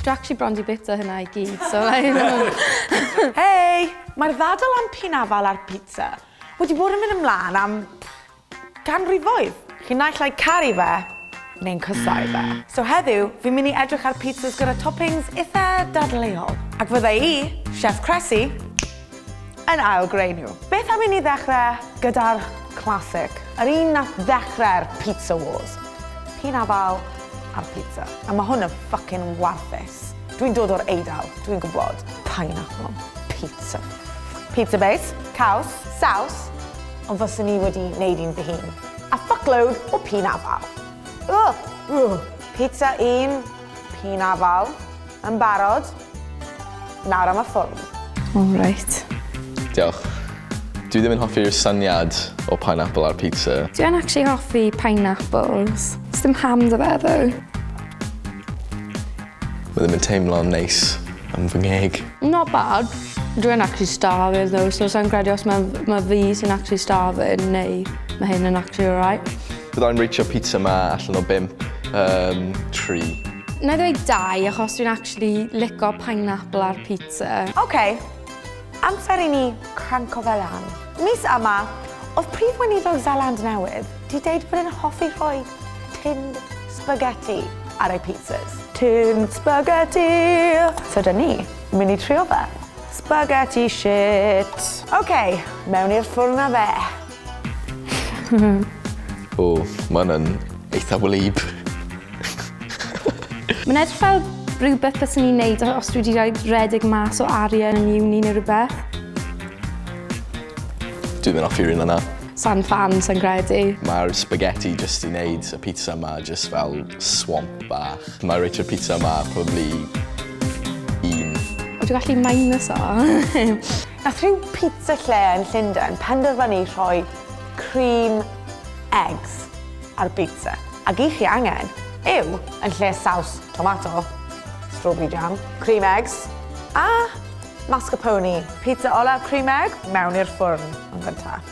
Dwi actually bron di bita hynna i gyd, so like... Hei! Mae'r ddadl am pinafal ar pizza wedi bod yn mynd ymlaen am ganrifoedd. Chi'n naill ai caru fe, neu'n cysau fe. So heddiw, fi'n mynd i edrych ar pizzas gyda toppings itha dadleuol. Ac fydda i, Chef Cressy, yn ail greu nhw. Beth am i ni ddechrau gyda'r classic, yr un nath ddechrau'r pizza wars. P'un afal a'r pizza. A ma' hwn yn ffycin warthus. Dwi'n dod o'r Eidal, dwi'n gwbod. Pineapple on pizza. Pizza base, caws, saws, ond fyswn i wedi neud un fy hun. A fuckload o p'un afal. Ugh! Ugh! Pizza un P'un afal. Yn barod? Nawr am y ffwrn. O reit. Diolch. Dwi ddim yn hoffi'r syniad o pineapple ar pizza. Dwi yn actually hoffi pineapples. Sdim ham da fe ddo. Mae ddim yn teimlo'n neis am fy ngheg. Not bad. Dwi yn actually starving though, so sa'n credu os mae ma fi sy'n actually starving neu mae hyn yn actually alright. Bydda i'n reitio pizza ma allan o bump, yym, tri. Wna i ddweud dau achos dwi'n actually lico pineapple ar pizza. Ok, amser i ni cranco fe lan. Mis yma, oedd Prif Weinidog Seland Newydd 'di deud bod e'n hoffi rhoi tinned spaghetti ar ei pizzas. Tinned spaghetti! So 'da ni, mynd i trio fe. Spaghetti shit! Ok, mewn i'r ffwrn a fe. O, ma' wnna'n eitha wlyb. Mae'n edrych fel rhywbeth byswn i'n neud os dwi wedi rhoi rhedeg mas o arian yn uni neu rhywbeth. Dwi ddim yn hoffi'r un yna. Sa'n ffan, sa'n credu. Mae'r spaghetti jyst i wneud y pizza ma jyst fel swamp bach. Mae reit o'r pizza ma probably un. O dwi gallu minus o. Nath rhyw pizza lle yn Llundain penderfynu rhoi cream eggs ar bizza. Ac i chi angen yw, yn lle saws tomato, strawberry jam, cream eggs a mascarpone. Pizza olaf cream egg mewn i'r ffwrn yn gyntaf.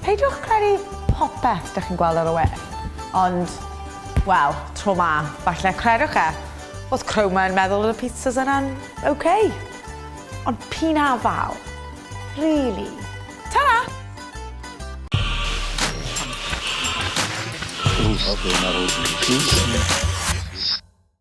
Peidiwch credu popeth dych chi'n gweld ar y we, ond, wel, tro ma, falle credwch e, oedd Chroma yn meddwl oedd y pizzas yna'n ok. Ond p'un a fal. Really. Ta-ra! Ooh, okay, not old.